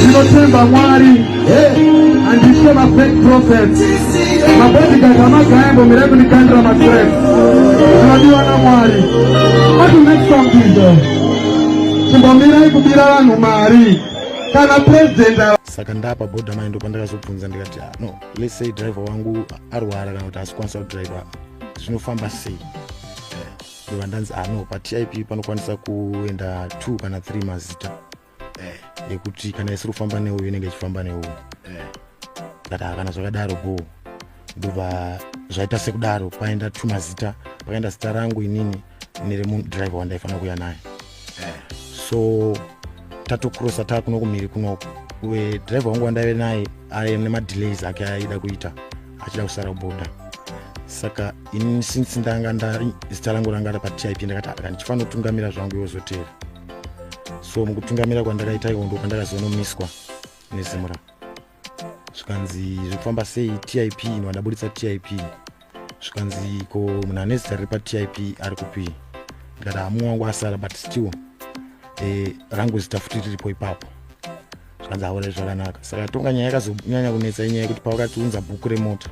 ndinotemba mwari handitye mafake prophets mabodigard amagaembo mirai kundikandira matrek ndinodiwa namwari ati next song izo chimbomirai kubira vanhu mari kana president saka ndapa boda mai ndopandakazobvunza ndikati ah, no let's say driver wangu arwara kana kuti asikwanisa kudriver zvinofamba sei ndova eh, ndanzi ano ah, patip panokwanisa kuenda two kana three mazita eh. nekuti kana isiri kufamba neuyu inenge ichifamba neuyu eh. ndaka kana zvakadaro bho ndobva zvaita sekudaro paenda tumazita pakaenda zita rangu inini neremudraive wandaifanira kuya naye eh. so tatokrosa taa kuno kumhiri kunoku uye driver wangu wandaive naye aye nemadelays ake aida kuita achida kusara kuboda saka ini since ndanga ndari zita rangu ranga rapatip ndakati akandichifanira kutungamira zvangu yozoteera so mukutungamira kwandakaita ikondo kwandakazonomiswa nezimura zvikanzi zvekufamba sei tip ino andaburitsa tip zvikanzi ko munhu ane zita riri patip ari kupi ndikati hamumwe wangu asara but still e, rangu zita futi riripo ipapo zvanzi haurei zvakanaka saka tonga nyaya yakazonyanya kunetsa inyaya yekuti pawakatiunza bhuku remota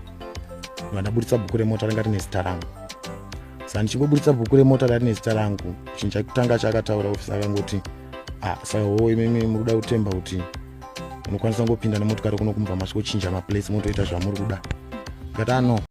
vandaburitsa bhuku remota ranga rine zita rangu saka ndichingoburitsa bhuku remota rari nezita rangu chinhu chakutanga chaakataura ofisi akangoti ah, saka hoo imimi muri kuda kutemba kuti unokwanisa kungopinda nemotokari kuno kumva masvikochinja maplace motoita zvamuri kuda ngati ano ah,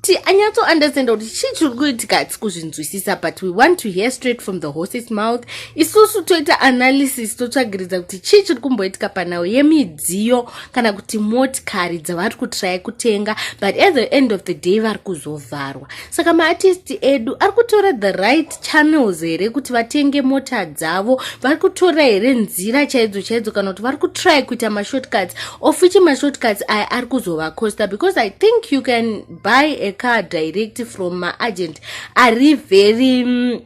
kuti anyatso understand kuti chii chiri kuitika hatisi kuzvinzwisisa but we want to hear straight from the horses mouth isusu toita analysis totsvagiridza kuti chii chiri kumboitika panhau yemidziyo kana kuti motikari dzavari kutraya kutenga but at the end of the day vari kuzovharwa saka maartisti edu ari kutora the right channels here kuti vatenge mota dzavo vari kutora here nzira chaidzo chaidzo kana kuti vari kutry kuita mashortcuts of which mashortcuts aya ari kuzovacosta because i think you can buy a car direct from maagent ari very um,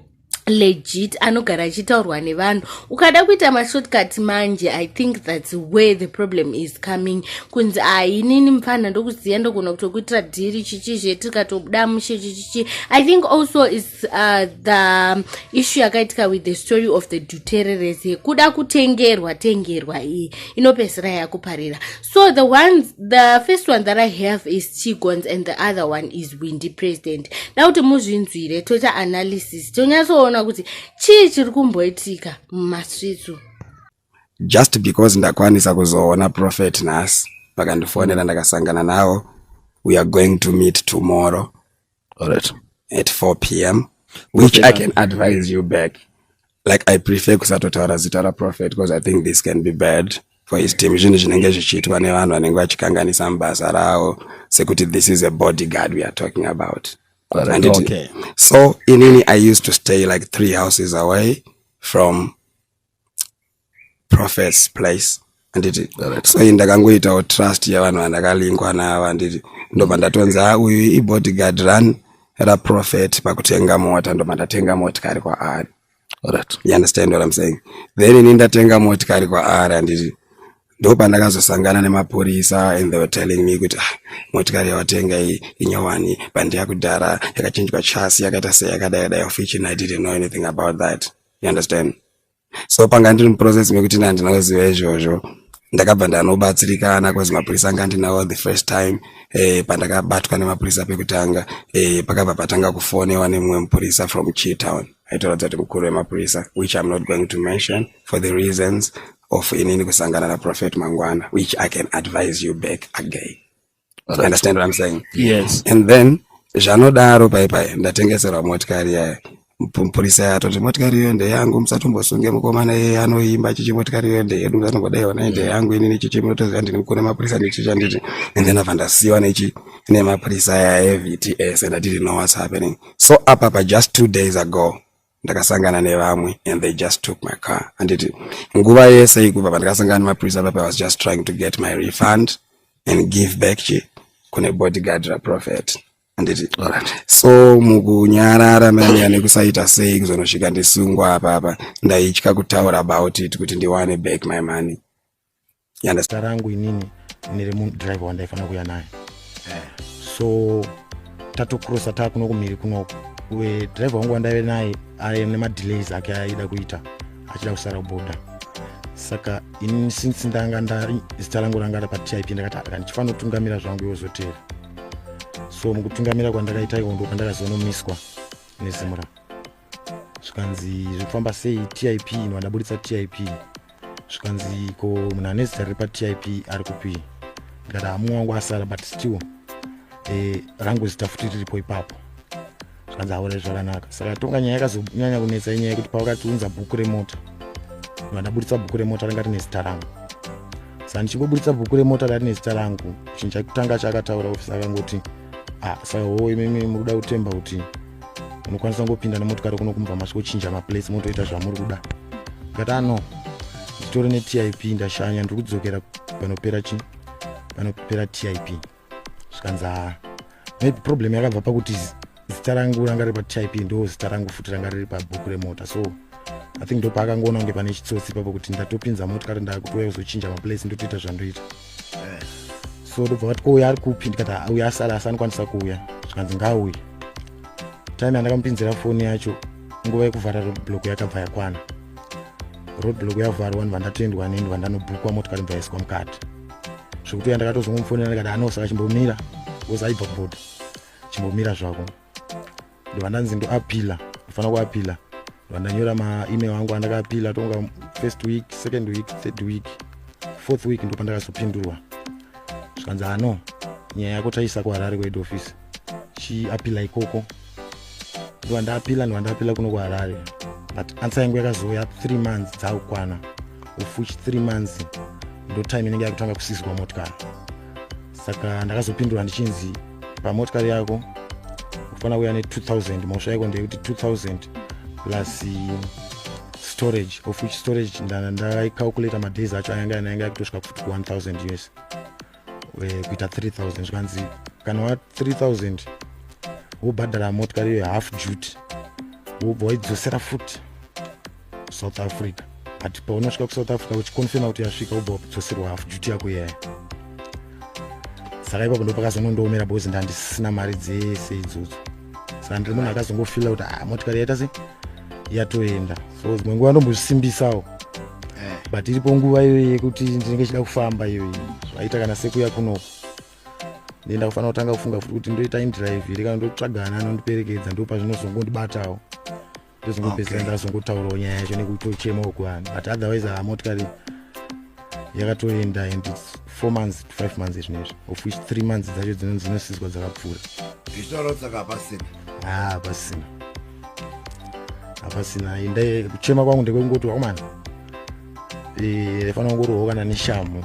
legit anogara achitaurwa nevanhu ukada kuita mashortcut manje i think thats where the problem is coming kunzi ainini ah, mfanha ndokuziva ndogona kutokuitira dhiri chichizve tikatobuda mushe chichichi i think also is Uh, the issue yakaitika with the story of the dutereres yekuda kutengerwa tengerwa iyi inopedzisira yakuparira so the ones the first one that i have is chigons and the other one is windy president da kuti muzvinzwire toita analysis tonyatsoona kuti chii chiri kumboitika mumasvitsu just because ndakwanisa kuzoona prophet nhasi vakandifonera ndakasangana navo we are going to meet tomorrow All right. At 4 p.m. Which okay, I can advise you back. Like I prefer kusatotaura zita raProphet because I think this can be bad for his team. Zvinhu zvinenge zvichiitwa nevanhu vanenge vachikanganisa mubasa ravo sekuti this is a bodyguard we are talking about. All right, okay. So inini I used to stay like three houses away from prophets place handiti sai ndakangoitawo trust yavanhu vandakalingwa navo handiti ndobva ndatonzi a ah, uyu ibodyguard run raprofet pakutenga mota ndobva ndatenga motikari kwaari right. you understand what I'm saying then ini ndatenga motikari kwaari handiti ndopandakazosangana nemapurisa and they were telling me kuti ah, motikari yawatenga iyi inyowani bandi yakudhara yakachinjwa chasi yakaita seyakadai dai of which i didn't know anything about that you understand so panga ndiri muprocess mekuti na ndinoziva izvozvo ndakabva ndanobatsirikana cause mapurisa anga ndinawo the first time eh, pandakabatwa nemapurisa pekutanga eh, pakabva patanga kufonewa nemumwe mupurisa from chitown aitoratidza kuti mukuru wemapurisa which im not going to mention for the reasons of inini kusangana naprofet mangwana which i can advise you back again you understand what i'm saying yes and then zvanodaro pai pai ndatengeserwa motikari yaya mupurisa yato kuti motikari iyo ndeyangu musatombosunge mukomana iye anoimba chichi motikari iyo ndeyedu musatomboda iona ndeyangu inini chichi munotoziva ndini mukune mapurisa nechichi anditi and then abva ndasiyiwa nechi nemapurisa aya evts and i didn't know what's happening so apapa just two days ago ndakasangana nevamwe and they just took my car handiti nguva yese ikuva pandakasangana nemapurisa pape was just trying to get my refund and give back chi kune bodyguard raprofet handiti so mukunyarara manya nekusaita sei kuzonosvika ndisungwa apapa ndaitya kutaura about it kuti ndiwane back my money zita rangu inini ndine rimwe driver wandaifanira kuya naye eh. so tatokrosa taa kuno kumhiri kunoko uye driver wangu wandaive naye aye nemadelays ake aida kuita achida kusara kuboda saka ini since ndanga ndari zita rangu ranga ra patip ndakati aka ndichifanira kutungamira zvangu iwozotera so mukutungamira kwandakaita iko ndokandakazonomiswa nezimura zvikanzi zviri kufamba sei tip ino adaburitsa tip zvikanzi ko munhu ane zita riri patip ari kupi ndikati hamumwe wangu asara but still e, rangu zita futi riripo ipapo zvikanzi haure zvakanaka saka tonga nyaya yakazonyanya kunetsa inyaya yekuti pavakatiunza bhuku remota munhu adaburitsa bhuku remota ranga rine zita rangu saka ndichingoburitsa bhuku remota rari nezita rangu chinhu chakutanga chakataura ofisa akangoti ah saka hoo imimi muri kuda kutemba kuti munokwanisa kungopinda nemotokari kuno kumva masvikochinja maplace motoita zvamuri kuda katano nditori netip ndashanya ndiri kudzokera panopera chi panopera tip zvikanzi haa maybe problem yakabva pakuti zita rangu ranga riri patip ndo zita rangu futi ranga riri pabhuku remota so i think ndopaakangoona kunge pane chitsotsi ipapo kuti ndatopinza motikari ndakutouya kuzochinja maplace ndotoita zvandoita so ndobva vati kouya ari kupi ndikati ah, uya asala asi anokwanisa kuuya zvikanzi ngaauye time yandakamupinzira foni yacho nguva yekuvhara roadblock yakabva yakwana roadblock yavharwa vanhu vandatendwa neni vandanobhukwa motikari bva yaiswa mukati zvekuti uya ndakatozongomufonera ndikati anosaka chimbomira bcause aibva kuboda chimbomira zvako ndiva ndanzi ndoapila ndifanira kuapila ndiva ndanyora maemail angu andakaapila tonga first week second week third week fourth week ndopandakazopindurwa zvikanzi hano nyaya yako taisa kuharare kuhead office chiapila ikoko ndiva ndaapila ndiva ndaapila kuno kuharare but ansa yangu yakazouya three months dzaakukwana of which three months ndotime inenge yakutanga kusizwa motikari saka ndakazopindura ndichinzi pamotikari yako unofanira kuya ne2000 mhosva yako ndeyekuti 2000 plus eh, storage of which storage ndaicalculator madays acho ayanga anayanga yakutosvika kufuti ku1000 us eh, kuita 3000 zvikanzi kana wa 3000 wobhadhara motikari iyo half jute wobva waidzosera futi south africa but paunosvika kusouth africa uchikonfirma kuti yasvika ubva wapidzoserwa hafu juti yako iyaya saka ipapo ndopakazonondoomera bozi ndandisina mari dzese idzodzo saka ndiri munhu akazongofila kuti ah, motikari yaita se yatoenda so dzimwe nguva ndombozvisimbisawo eh. but iripo nguva iyoyi yekuti ndinenge chida kufamba iyoyi zvaita kana sekuya kunoko ndenda kufanira kutanga kufunga futi kuti ndoita indrive here kana ndotsvagana anondiperekedza ndopazvinozongondibatawo ndozongopedzera okay. ndazongotaurawo nyaya yacho nekutochema uku vanhu but otherwise haa ah, motikari yakatoenda and its four months to five months izvino izvi of which three months dzacho dzinosizwa dzakapfuura zvitaura saka hapasina haa ah, hapasina hapasina enda kuchema kwangu ndekwekungoti wakomana eh, fanira kungorohwa kana neshamu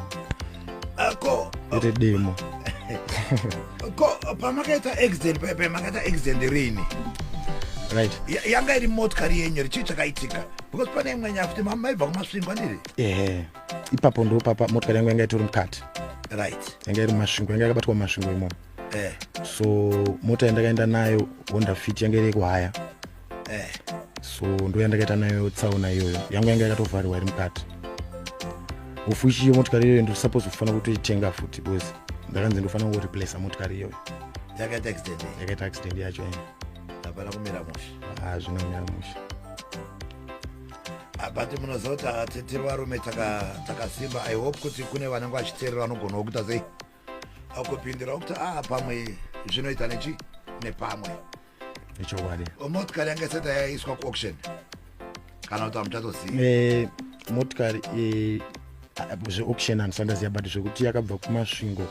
ako iri demo ko pamakaita accident pepe makaita accident rini right yanga iri motikari yenyu richii chakaitika because pane imwe nyaya kuti maibva kumasvingwa ndiri ehe ipapo ndo papa motikari yangu yanga itori mukati right yanga iri masvingo yanga yakabatwa masvingo imomo eh. so mota yandakaenda nayo honda fit yanga iri yekuhaya eh. so ndo yandakaita nayo tsaona iyoyo yangu yanga yakatovharirwa iri mukati hofu ichiyo motikari iyoyo ndosupose kufanira kutoitenga futi because ndakanzi ndofanira kungoreplace motikari iyoyo yakaita accident yakaita accident yacho ene hapana kumira musha hazvina ah, kumira musha ah, but munoziva kuti atetere varume takasimba i hope kuti kune vanenge vachiteerera vanogona wokuita sei akupindirawo kuti a ah, pamwe zvinoita nechi nepamwe nechokwadi motikari yanga isati yaiswa kuauction kana kuti amuchatoziva eh, motikari eh, zveauction handifanira ziva but zvekuti yakabva kumasvingo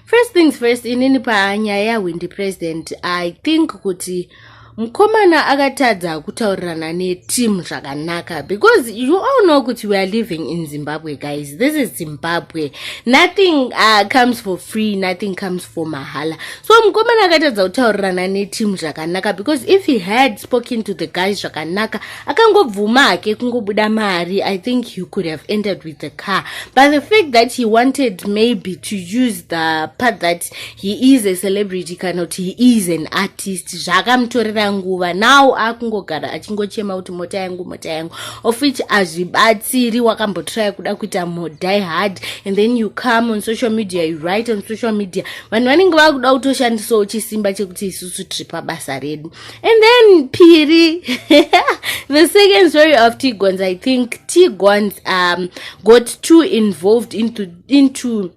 first things first inini panyaya yahwindi president i think kuti mukomana akatadza kutaurirana neteam zvakanaka because you all know kuti weare living in zimbabwe guys this is zimbabwe nothing uh, comes for free nothing comes for mahala so mukomana akatadza kutaurirana neteam zvakanaka because if he had spoken to the guys zvakanaka akangobvuma hake kungobuda mari i think he could have entered with the car but the fact that he wanted maybe to use the part that he is a celebrity kana kuti he is an artist zvaakamutorera nguva now akungogara achingochema kuti mota yangu mota yangu of which hazvibatsiri wakambotraya kuda kuita modie hard and then you come on social media you write on social media vanhu vanenge vakuda kutoshandisawo chisimba chekuti isusu tiri pabasa redu and then piri the second story of tigons i think tigons um, got too involved into, into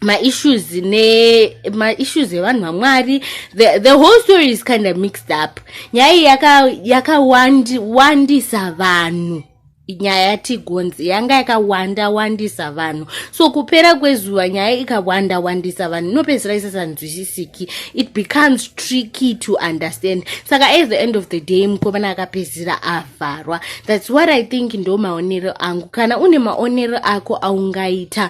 maissues ne maissues evanhu vamwari the, the whole story is kind of mixed up nyaya iyi yakawandisa yaka vanhu nyaya yatigonzi yanga yakawanda wandisa vanhu so kupera kwezuva nyaya ikawanda wandisa vanhu inopedzisira isasanzwisisiki it becomes tricky to understand saka at the end of the day mukomana akapedzisira avharwa thats what i think ndo maonero angu kana une maonero ako aungaita